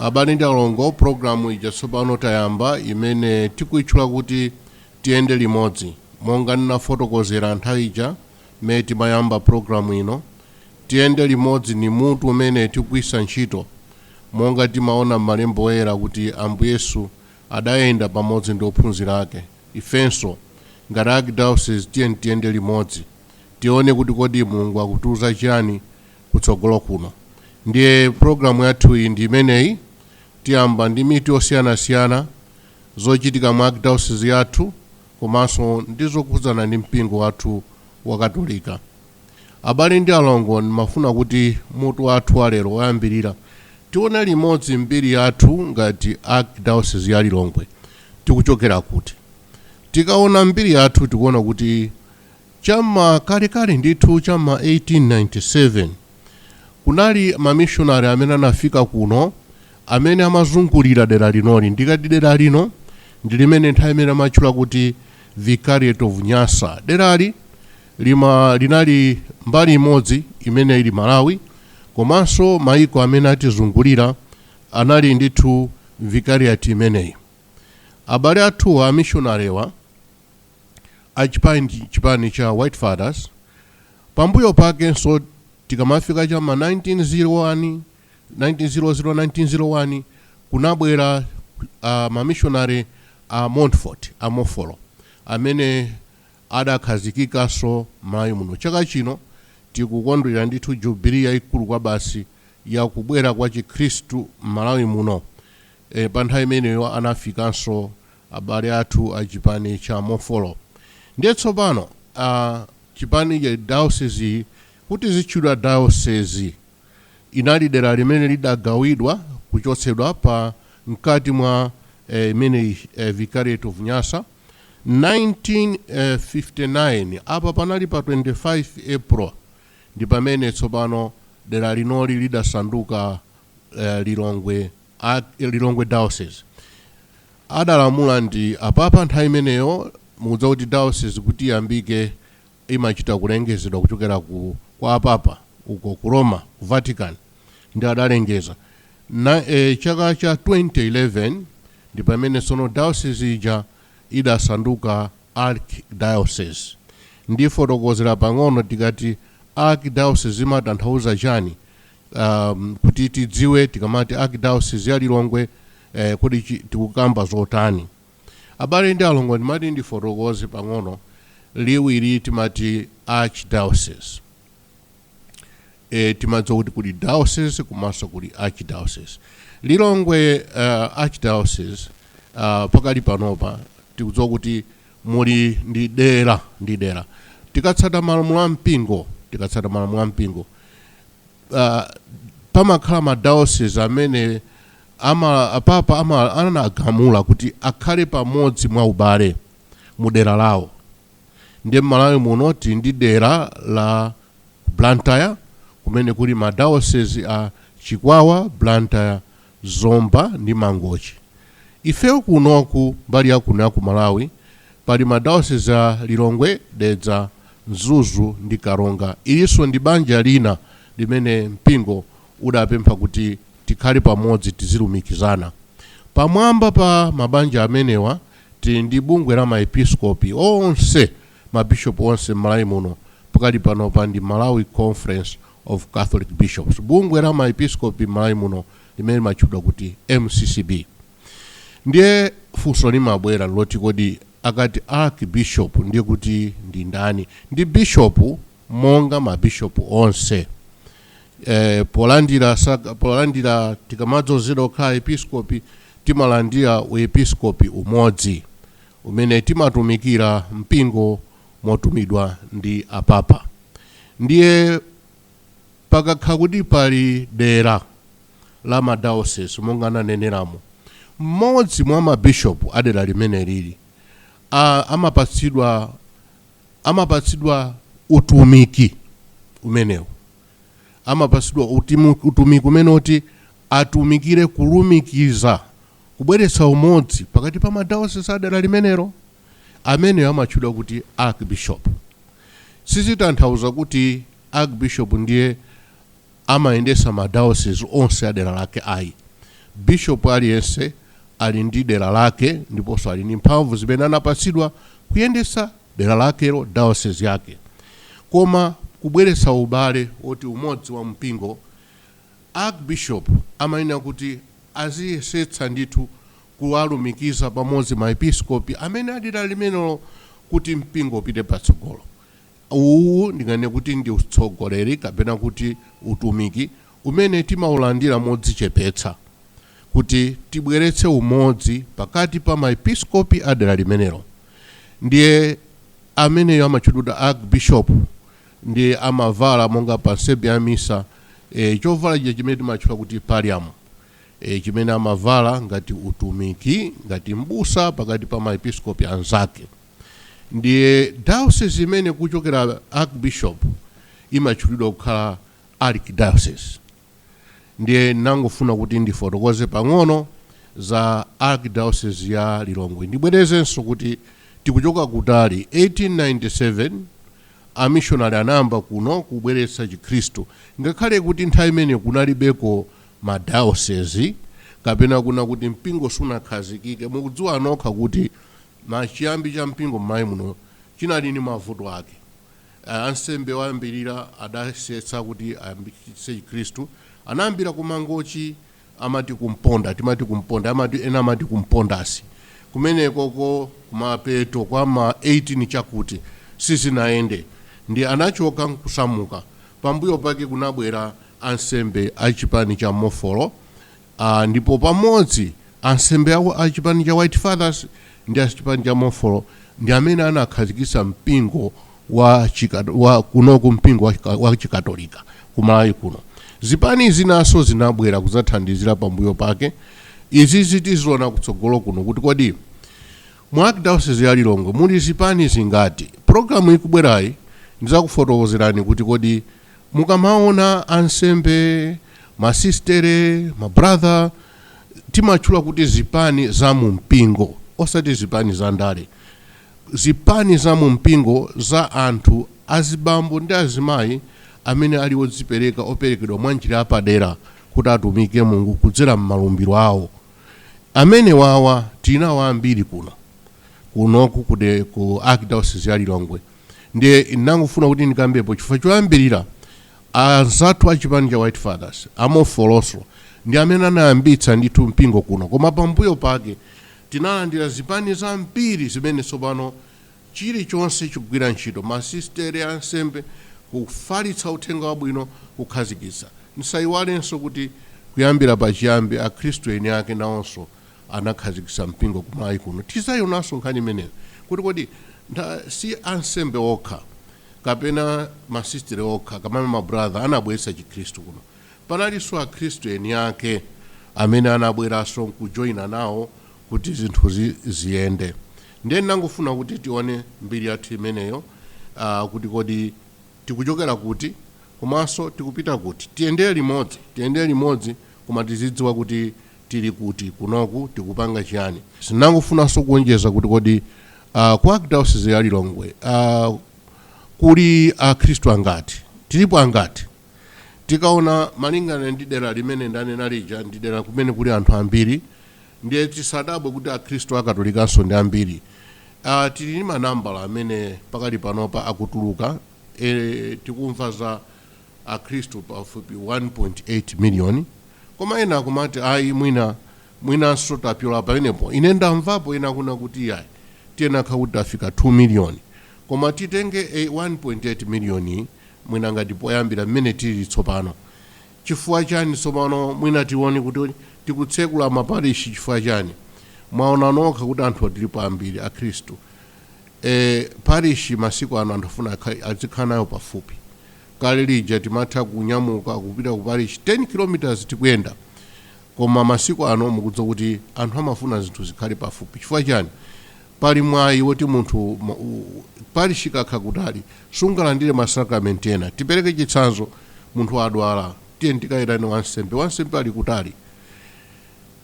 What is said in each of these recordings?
abale ndi alongo programu ija tsopano tayamba imene tikuitchula kuti tiyende limodzi monga ndinafotokozera nthawi ija mmene timayamba programu ino tiyende limodzi ndi mutu umene tikugwiritsa ntchito monga timaona m'malembo oyera kuti ambuye yesu adayenda pamodzi ndi ophunzira ake, ifenso ngati Archdiocese tiyeni tiyende limodzi tione kuti kodi Mulungu akutiuza chiyani kutsogolo kuno. Ndiye program yathuyi ndi imeneyi, tiyamba ndi mitu yosiyanasiyana, zochitika mu Archdiocese yathu komanso ndi zokhudzana ndi mpingo wathu wa Katolika. Abale ndi alongo, ndimafuna kuti mutu wathu wa lero woyambirira tione limodzi mbiri yathu ngati Archdiocese ya Lilongwe. Tikuchokera kuti? Tikaona mbiri yathu tikuona kuti cha m'ma kalekale ndithu cha m'ma 1897 kunali mamishonale amene anafika kuno amene amazungulira dera linoli. Ndikati dera lino ndi limene nthawi imene amatchula kuti Vicariate of Nyasa. Derali Lima linali mbali imodzi imene ili Malawi komanso maiko amene atizungulira anali ndithu Vicariate imeneyi. Abale athuwa amishonalewa a chipani cha White Fathers pambuyo pakenso tikamafika cha m'ma 1900, 1901 kunabwera mamishonale a Montfort, a Mofolo, amene. adakhazikikanso Malawi muno. Chaka chino tikukondwera ndithu Jubilee yaikulu kwabasi ya kubwera kwa chikhristu m'Malawi muno. E, pa nthawi imeneyo anafikanso abale athu a chipani cha Mofolo. Ndiye tsopano a, chipani cha, dayosiziyi kuti izitchulidwa dayosezi, inali dera limene lidagawidwa kuchotsedwa pa, mkati mwa, e, imeneyi, e, Vicariate of Nyasa. 1959, apa panali pa 25 April, ndi pamene tsopano dera linoli lidasanduka Lilongwe Diocese. Adalamula ndi Apapa nthawi imeneyo, mukudziwa kuti diocese kuti iyambike imachita kulengezedwa kuchokera ku kwa apapa uko ku Roma, ku Vatican, ndi adalengeza, na, e, chaka cha 2011, ndi pamene tsono dayosizi ija idasanduka archdiocese. Ndifotokozera pang'ono, tikati archdiocese imatanthauza chani, a, kuti tidziwe tikamati archdiocese ya Lilongwe, e, kodi chi, tikukamba zotani. Abale ndi alongo ndimati ndifotokoze pang'ono liwu ili timati archdiocese. E, timadziwa kuti kuli diocese komanso kuli archdiocese. Lilongwe uh, archdiocese uh, pakali panopa tikudziwa kuti muli ndi dera ndi dera tikatsata malamulo a mpingo tikatsata malamulo a mpingo uh, pamakhala madiocese amene Ama, apapa anagamula kuti akhale pamodzi mwa ubale mu dera lawo. Ndiye m'Malawi muno tili ndi dera la Blantyre kumene kuli ma diocese a Chikwawa, Blantyre, Zomba ndi Mangochi. Ifeyo kunoku mbali ya kuno ya ku Malawi pali ma diocese a Lilongwe, Dedza, Mzuzu ndi Karonga. Ilinso ndi banja lina limene mpingo udapempha kuti tikhale pamodzi tizilumikizana. Pamwamba pa mabanja amenewa tili ndi bungwe la ma Episkopi onse, ma Bishop onse m'Malawi muno pakali panopa ndi Malawi Conference of Catholic Bishops, bungwe la ma Episkopi m'Malawi muno limene limatchudwa kuti MCCB. Ndiye funso limabwera nloti kodi akati Archbishop ndiye kuti ndi ndani? Ndi Bishop monga ma Bishop onse. eh, polandira saka- polandira tikamadzozedwa kukhala episkopi timalandira uepiskopi umodzi umene timatumikira mpingo motumidwa ndi apapa ndiye pakakha kuti pali dera la madiocese monga ndaneneramo mmodzi mwa mabishopu a dera limene lili a- amapatsidwa amapatsidwa utumiki umenewu, amapatsidwa utumiki umenewu oti atumikire kulumikiza, kubweretsa umodzi pakati pa madiocese a dera limenelo. Ameneyo amatchedwa kuti archbishop. Sizitanthauza kuti archbishop ndiye amayendesa ma diocese onse adera lake ayi. Bishop aliyense ali ndi dera lake ndiponso ali ndi mphamvu zimene anapatsidwa kuyendetsa dera lakelo, diocese yake. Koma kubweretsa ubale woti umodzi wa mpingo, Archbishop amayenera kuti aziyesetsa ndithu kuwalumikiza pamodzi ma episkopi amene adera limenelo kuti mpingo upite patsogolo. Uwu ndinganene kuti ndi utsogoleri kapena kuti utumiki umene timaulandira modzichepetsa kuti tibweretse umodzi pakati pa ma episkopi a dera limenelo ndiye ameneyo amatchedwa kuti archbishop ndiye amavala monga pa nsembe ya misa e, chovala chija chimene timatchula kuti pallium e, chimene amavala ngati utumiki ngati mbusa pakati pa ma episkopi anzake. Ndiye diocese imene kuchokera archbishop imatchulidwa kukhala archdiocese. Ndiye ndangofuna kuti ndifotokoze pang'ono za archdiocese ya Lilongwe. Ndibwerezenso kuti tikuchoka kutali 1897 amishonari anayamba kuno kubweretsa Chikhristu ngakhale kuti nthawi imene kunalibeko ma diocese kapena kuna kuti mpingo sunakhazikike. Mukudziwa nokha kuti Pachiyambi cha mpingo m'Malawi muno chinali ndi mavuto ake. Ansembe oyambirira adayesetsa kuti ayambitse chikhristu. Anayambira ku Mangochi amati ku Mponda, timati ku Mponda, amati, ena amati ku Mpondasi. Kumenekoko kumapeto kwa ma 18 chakuti, sizinayende ndiye anachoka nkusamuka. Pambuyo pake kunabwera ansembe a chipani cha Mofolo. Ndipo pamodzi, ansembe a chipani cha White Fathers ndi a chipani cha Mofolo ndi amene anakhazikitsa mpingo wa chikatolika, wa kunoku mpingo wa, wa chikatolika ku Malawi kuno. Zipani zinanso zinabwera kuzathandizira pambuyo pake. Izizi tiziona kutsogolo kuno kuti kodi mu Archdiocese ya Lilongwe muli zipani zingati. Program ikubwerayi ndizakufotokozerani kuti kodi Mukamaona ansembe, masisitere, mabrother, timatchula kuti zipani za mu mpingo, osati zipani za ndale, zipani za mu mpingo za anthu azibambo ndi azimayi amene ali odzipereka, operekedwa mwa njira yapadera kuti atumikire Mulungu kudzera m'malumbiro awo. Amenewawa tili nawo ambiri kuno kunoku ku de- ku Archdiocese ya Lilongwe. ndiye ndangofuna kuti ndikambepo chifukwa choyambirira anzathu a chipani cha white fathers a Mofolonso ndi amene anayambitsa ndithu mpingo kuno koma pambuyo pake tinalandira zipani zambiri zimene tsopano chilichonse chikugwira ntchito masistere ansembe kufalitsa uthenga wabwino kukhazikitsa ndisayiwalenso kuti kuyambira pachiyambi akhristu eni ake nawonso anakhazikitsa mpingo ku Malawi kuno. Tizaionanso nkhani imeneyo kuti kodi si ansembe okha kapena ma sistere okha kapena ma brother anabweretsa chikhristu kuno. Panalinso akhristu eni ake amene anabweranso nkujoina nawo kuti zinthu ziyende. Ndiye ndinangofuna kuti tione mbiri yathu imeneyo a kuti kodi tikuchokera kuti komanso tikupita kuti. Tiyendere limodzi, tiyendere limodzi koma tizidziwa kuti tili kuti kunoku tikupanga chiyani. Ndinangofunanso kuonjeza kuti kodi ku Archdiocese ya Lilongwe kuli akhristu angati? Tilipo angati? Tikaona malingana ndi dera limene ndanena lija ndi dera kumene kuli anthu ambiri ndiye tisadabwe kuti akhristu a Katolikanso ndi ambiri. Tili ndi manambala amene pakali panopa akutuluka, tikumva za. Akhristu pafupi 1.8 miliyoni, koma ena akumati ayi mwinanso tapyola pamenepo. Ine ndamvapo ena akunena kuti iyayi tiyenera kukhala kuti tafika 2 miliyoni. Koma titenge 1.8 miliyoni mwina ngati poyambira mmene tilili tsopano. Chifukwa chani tsopano mwina tione kuti tikutsekula maparishi chifukwa chani? Mwaona nokha kuti anthu tilipo ambiri, Akhristu E, parishi masiku ano anthu afuna azikhala nayo pafupi. Kale lija timatha kunyamuka kupita ku parishi 10 km tikuyenda, koma masiku ano mukudziwa kuti anthu amafuna zinthu zikhale pafupi. Chifukwa chani? Pali mwayi woti munthu ma- u- u- parishi ikakhala kutali sungalandire masakramenti ena. Tipereke chitsanzo, munthu wadwala, tiyeni tikaitane wansembe. Wansembe ali kutali,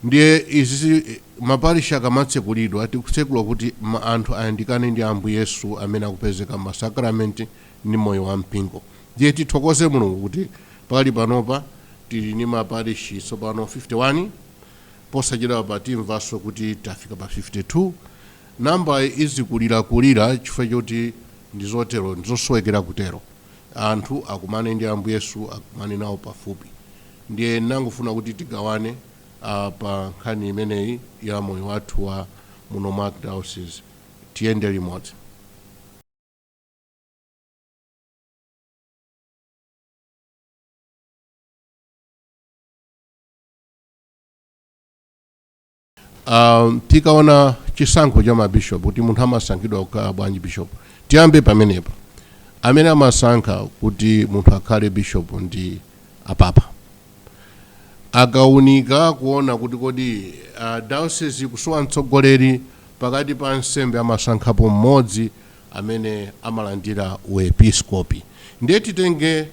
Ndiye izi ma parish akamatsekulidwa tikutsekula kuti anthu ayandikane ndi Ambuye Yesu amene akupezeka mma sacrament ndi moyo wa mpingo. Ndiye tithokoze Mulungu kuti pakali panopa tili ndi ma parish tsopano 51 posachedwapa timvanso kuti tafika pa 52. Number izikulirakulira chifukwa choti ndizotero, ndizosowekera kutero. anthu akumane ndi Ambuye Yesu, akumane nawo pafupi. Ndiye nangofuna kuti tigawane ah, pa nkhani imeneyi ya moyo wathu wa muno mwa Archdiocese. Tiyende limodzi. Um, tikaona chisankho cha mabishop kuti munthu amasankhidwa kukhala bwanji bishop tiyambe pamenepa amene amasankha kuti munthu akhale bishop ndi apapa akaunika kuona kuti kodi uh, diocese ikusowa mtsogoleri pakati pa ansembe amasankhapo mmodzi amene amalandira u episkopi ndiye titenge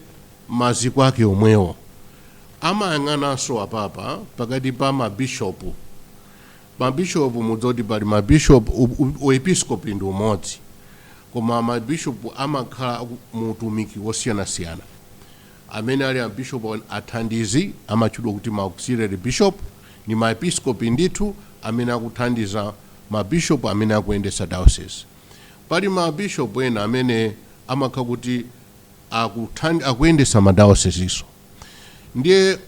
maziko ake omwewo amayang'ananso apapa pakati pa mabishopu mabishopu mudziwa kuti pali mabishopu u- u- u episkopi ndi umodzi koma mabishopu amakhala aku- mu utumiki wosiyanasiyana amene ali abishopu athandizi amatchedwa kuti ma auxiliary bishop ndi maepiskopi ndithu amene akuthandiza mabishopu amene akuyendetsa diocese Pali ma bishop ena amene amakha kuti akuthandi akuyendesa ma diocese-so ndiye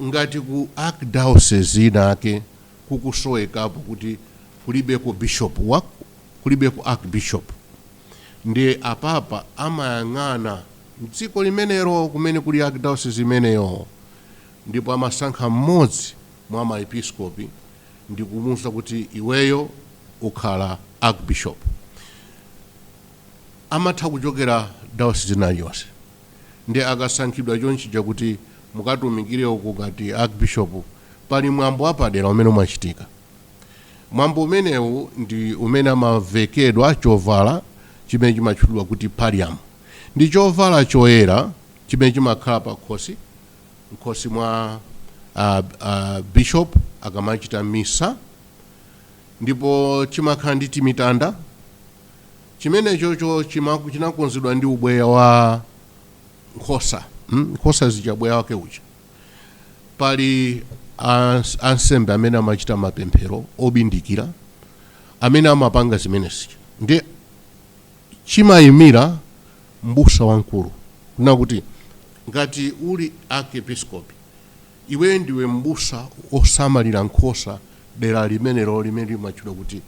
ngati ku archdiocese inayake kukusowekapo kuti kulibeko bishop wa kulibeko archbishop ndiye apapa amayang'ana mdziko limenero kumene kuli archdiocese imeneyo ndipo amasankha mmodzi mwa ma episkopi ndikumuuza kuti iweyo ukhala Archbishop amatha kuchokera diocese ina iliyonse ndiye akasankhidwa chonchija kuti mukatumikire uku ngati Archbishop pali mwambo wapadera umene umachitika mwambo umenewu ndi umene amavekedwa chovala chimene chimatchulidwa kuti pallium ndi chovala choyera chimene chimakhala pakhosi m'khosi mwa a, a bishop akamachita misa ndipo chimakhala ndi timitanda chimenechocho chimaku- chinakonzedwa ndi ubweya wa nkhosa mm? nkhosa zija ubweya wake uja pali ans- ansembe amene amachita mapemphero obindikira amene amapanga zimenezi ndi chimayimira mbusa wamkulu kunena kuti ngati uli archepiskopi iwe ndiwe mbusa wosamalira nkhosa dera limenelo limene limatchedwa kuti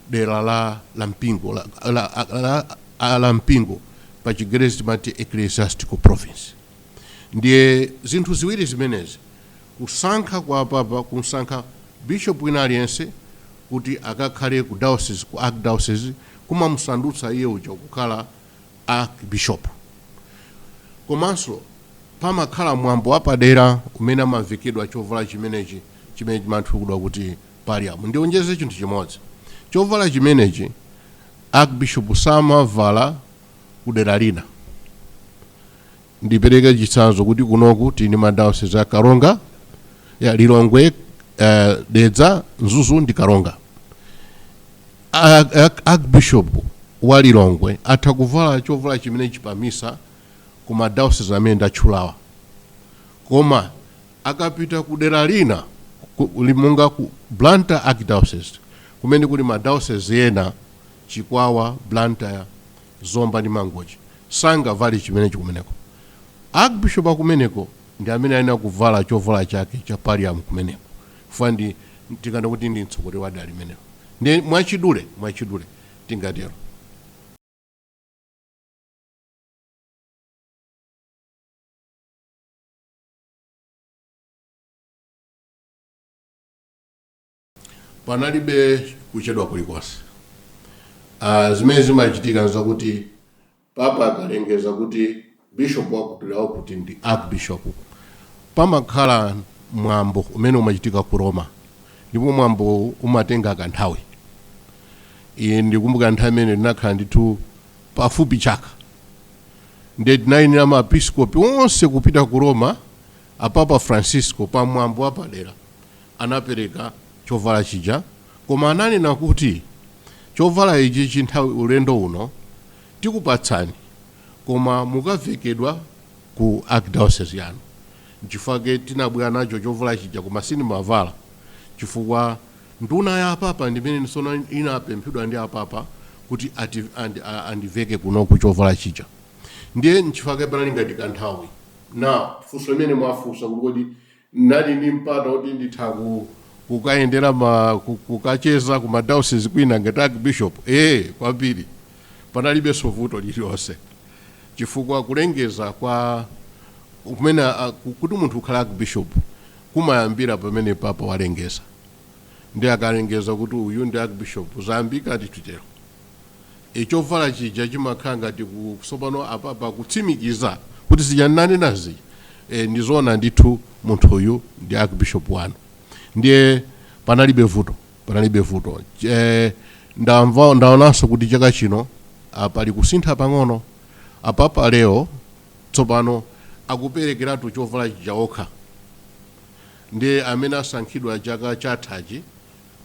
dera la la mpingo la, la, la, la, la mpingo pa chigerezi timati ecclesiastical province ndiye zinthu ziwiri zimenezi kusankha kwa papa kumsankha bishop wina aliyense kuti akakhale ku diocese ku archdiocese kumamusandutsa iye uja kukhala Archbishop. Komanso pamakhala mwambo wapadera umene amavekedwa chovala chimenechi chimene chimatchulidwa kuti Pallium. Ndionjeze chinthu chimodzi. Chovala chimenechi Archbishop samavala kudera lina. Ndipereke chitsanzo kuti kunoku tili ndi ma diocese a Karonga, ya Lilongwe, eh, Dedza, Mzuzu ndi Karonga. Archbishop wa Lilongwe atha kuvala chovala chimenechi pa misa ku ma diocese amene ndatchulawa. Koma akapita ku dera lina ku- li- monga ku Blantyre Archdiocese kumene kuli ma diocese ena Chikwawa, Blantyre, Zomba ndi Mangochi sangavale chimenechi kumeneko. Archbishop akumeneko ndi amene ayenera kuvala chovala chake cha pallium kumeneko chifukwa ndi tinganene kuti ndi mtsogoleri wa dera limenelo ndi mwachidule mwachidule tingatero. panalibe kuchedwa kulikonse uh, zimene zimachitika nzakuti papa akalengeza kuti bishop wakuti wakuti ndi archbishop pamakhala mwambo umene umachitika ku roma ndipo mwambo umatenga kanthawi ine ndikumbuka nthawi imene ndinakhala ndithu pafupi chaka nde tinayenera maepiskopi onse kupita ku roma apapa francisco pa mwambo wapadera anapereka chovala chija koma ananena kuti chovala ichichi nthawi ulendo uno tikupatsani koma mukavekedwa ku archdiocese yanu nchifukwa chake tinabwera nacho chovala chija koma sindimavala chifukwa nduna ya apapa ndimene sono inapemphedwa ndi apapa kuti andiveke kunoku chovala chija ndiye nchifukwa chake panali ngati kanthawi now funso limene mwafunsa kuti kodi N'nali ni mpata woti nditha kukayendera ma, kukacheza ku ma dayosizi kwina ngati arkibishopu. Ee, kwambiri. Panalibenso vuto lililonse chifukwa kulengeza kwa kumene, kuti munthu ukhale arkibishopu kumayambira pamene papa walengeza. Ndiye akalengeza kuti uyu ndi arkibishopu, zayambika ndithu tero. E, chovala chija chimakhala ngati ku, tsopano apapa kutsimikiza kuti zija ndinanena zija, e, ndi zoona ndithu munthuyu ndi Archbishop wanu. Ndiye panalibe vuto, panalibe vuto. E, ndamva, ndaonanso kuti chaka chino a, pali kusintha pang'ono. Apapa Leo tsopano akuperekeratu chovala chija okha. Ndiye amene asankhidwa chaka chathachi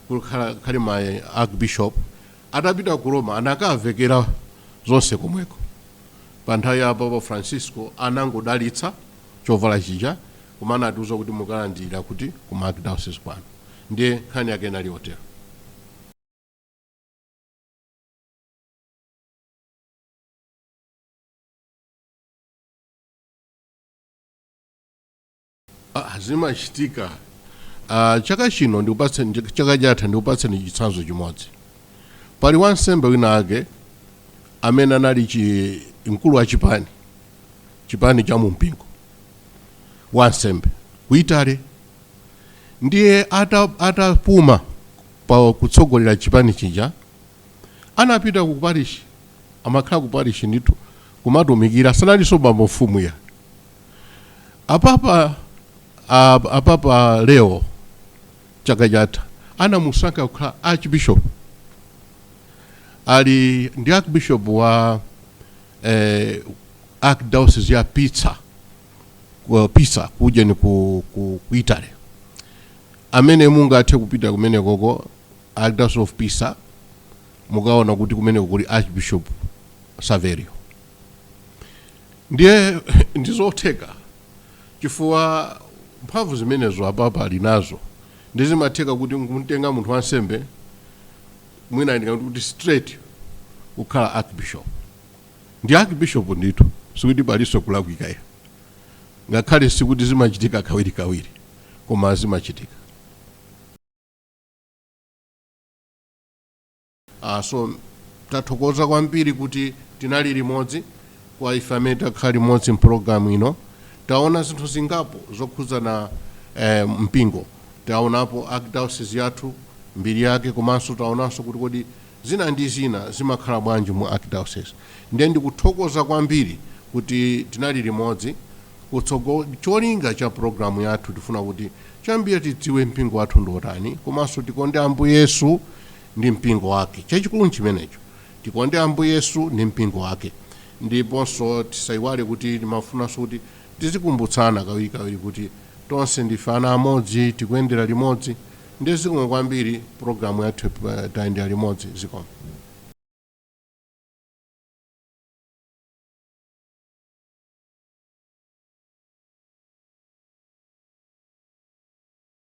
kukhala ma archbishop atapita ku Roma anakavekera zonse komweko pa nthawi ya Papa Francisco anangodalitsa chovala chija koma anatiuza kuti mukalandirira kuti ku ma archdiocese kwanu ndiye nkhani yake inali yotero Ah, zimachitika Ah, chaka chino ndikupatseni ch- chaka chatha ndikupatseni chitsanzo chimodzi pali wansembe wina ake amene anali mkulu wa chipani chipani cha mumpingo wansembe ku Italy ndiye ata- atapuma pa kutsogolera chipani chija anapita ku parishi amakhala ku parishi ndithu kumatumikira sanalinso bambo mfumu ya apapa a- apapa leo chaka chatha anamusankha kukhala archbishop pano ndi archbishop wa eh, archdiocese ya pizza ku- pisa kujeni ku, ku, ku italy amene mungathe kupita kumenekoko archdiocese of pisa mukaona kuti kumeneko kuli archbishop saverio Ndiye ndi zotheka chifukwa mphamvu zimenezo apapa ali nazo ndi zimatheka kuti nkumtenga munthu wansembe mwina ndingati kuti straight kukhala archbishop ndi archbishop ndithu sikuti palinso kulakwika ayi ngakhale sikuti zimachitika kawirikawiri koma zimachitika Ah so tathokoza kwambiri kuti tinali limodzi kwa ife amene takhala limodzi mpologalamu ino taona zinthu zingapo zokhudzana eh, mpingo taonapo archdiocese yathu mbiri yake komanso taonanso kuti kodi zina ndi zina zimakhala bwanji mu archdiocese ndiye ndikuthokoza kwambiri kuti tinali limodzi cholinga cha pulogalamu yathu tifuna kuti chambira tidziwe mpingo wathu ndiotani komanso tikonde ambuye yesu ndi mpingo wake. Chachikulu nchimenecho. Tikonde Ambuye Yesu ndi mpingo wake. Ndiponso tisaiwale kuti timafunanso kuti tizikumbutsana kawirikawiri kuti tonse ndife ana amodzi, tikuyendera limodzi. Ndiye zikomo kwambiri, programu yathu tayendera limodzi. Zikomo.